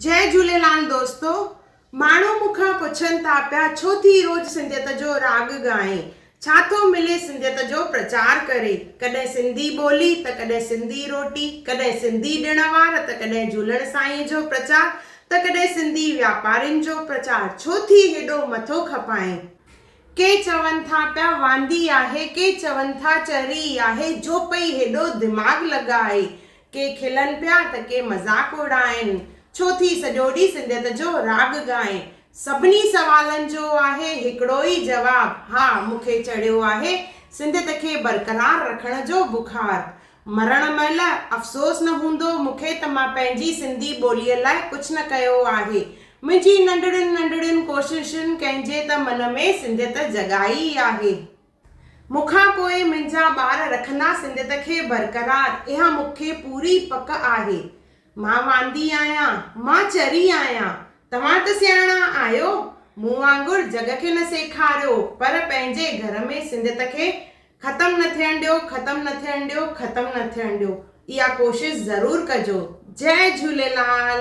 جئي جهوليلال دوستو ماڻهو مون کان پڇن ٿا پيا ڇو ٿي روز سنڌيت جو راڳ ڳائين ڇا ٿو ملي سنڌيت جو پرچار ڪري ڪڏهن سنڌي ٻولي ته ڪڏهن سنڌي روٽي ڪڏهن سنڌي ڏڻ وار ته ڪڏهن جهولڻ سائينء جو پرچار ته ڪڏهن سنڌي واپارين جو پرچار ڇو ٿي هيڏو مٿو کپائين. ڪي چون ٿا پيا واندي آهي ڪي چون ٿا چري آهي جو پئي هيڏو دماغ لڳائي ڪي کلن پيا ته ڪي مذاق اڙائين. ڇو ٿي سڄو ڏينهن سنڌيت جو راڳ ڳائين. سڀني سوالن جو آهي هڪڙو ئي جواب، ها مون کي چڙهيو آهي سنڌيت کي برقرار رکڻ جو بخار. مرڻ مهل افسوس نه هوندو مون کي ته مان پنهنجي سنڌي ٻوليء لاء ڪجهه نه ڪيو آهي. منهنجي ننڍڙين ننڍڙين ڪوششن ڪنهن جي ته من ۾ سنڌيت جڳائي آهي. مون کان پوء منهنجا ٻار رکندا سنڌيت کي برقرار، اها مون کي پوري پڪ آهي. مان واندي آهيان، مان چري آهيان، توهان ته سياڻا آهيو، مون وانگر جڳ کي نه سيکاريو، پر پنهنجي گهر ۾ سنڌيت کي ختم نه ٿيڻ ڏيو، ختم نه ٿيڻ ڏيو، ختم نه ٿيڻ ڏيو، اها ڪوشش ضرور ڪجو. جئه جهوليلال.